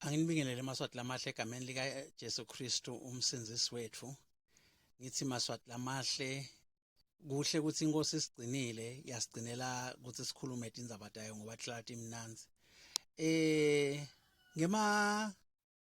Anginibingelele maswati lamahle egameni lika Jesu Kristu umsindisi wethu. Ngithi maswati lamahle kuhle ukuthi inkosi isigcinile yasigcinela ukuthi sikhulume indaba tayo ngoba hlala imnanzi. Eh ngema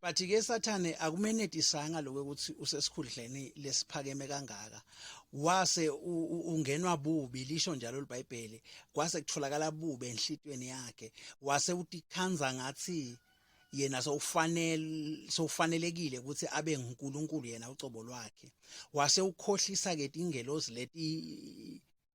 but ke sathane akumenetisanga lokho ukuthi usesikhundleni lesiphakeme kangaka wase ungenwa bubi lisho njalo libhayibheli kwase kutholakala bubi enhlitweni yakhe wase utikhanza ngathi yena sowufanele sowufanelekile ukuthi abe nguNkulunkulu yena ucobo lwakhe wase ukhohlisa ke ingelosi leti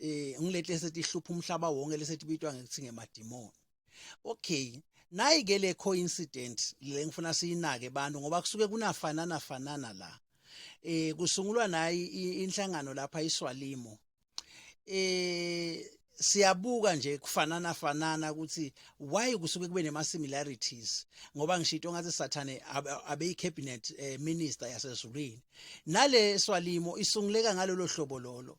eh ngilete sethi ihlupha umhlaba wonke lesethi bitwa ngekuthi ngemadimoni okay nayi ke le coincident le ngifuna siyinake abantu ngoba kusuke kunafanana fanana la eh kusungulwa nayi inhlangano lapha iswalimo eh siyabuka nje kufanana fanana ukuthi why kusuke kube nema similarities ngoba ngishito ngathi sathane abe cabinet eh, minister yasezulwini nale swalimo isunguleka ngalolo hlobo lolo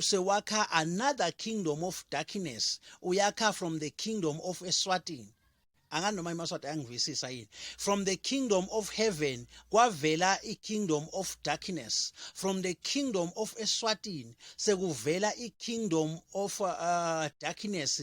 sewakha another kingdom of darkness uyakha from the kingdom of eswatini angani noma imaswati ayangivisisa yini from the kingdom of heaven kwavela i-kingdom of darkness from the kingdom of eswatini sekuvela i-kingdom of uh, darkness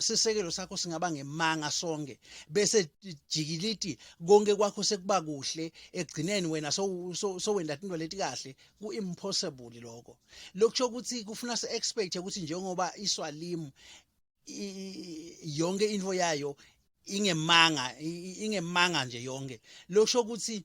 sisekelo sakho singaba ngemanga sonke bese jikiliti konke kwakho sekuba kuhle egcineni wena so so wenda into leti kahle ku impossible lokho lokusho ukuthi kufuna si expect ukuthi njengoba iswalimu yonke into yayo ingemanga ingemanga nje yonke lokusho ukuthi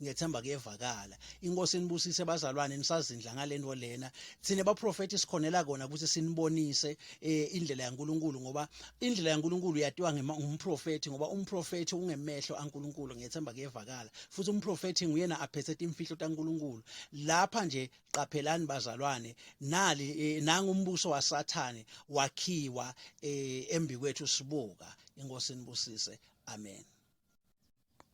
ngiyethemba kuyevakala inkosi inibusise bazalwane nisazindla ngalento lena thina baprofeti sikhonela kona ukuthi sinibonise eh, indlela yaNkuluNkulu ngoba indlela yaNkuluNkulu yatiwa ngumprofeti ngoba umprofeti ungemehlo aNkuluNkulu ngiyethemba kuyevakala futhi umprofeti nguyena aphethe imfihlo taNkuluNkulu lapha nje qaphelani bazalwane nali eh, nangu umbuso wasathane wakhiwa eh, embikwethu sibuka inkosi inibusise amen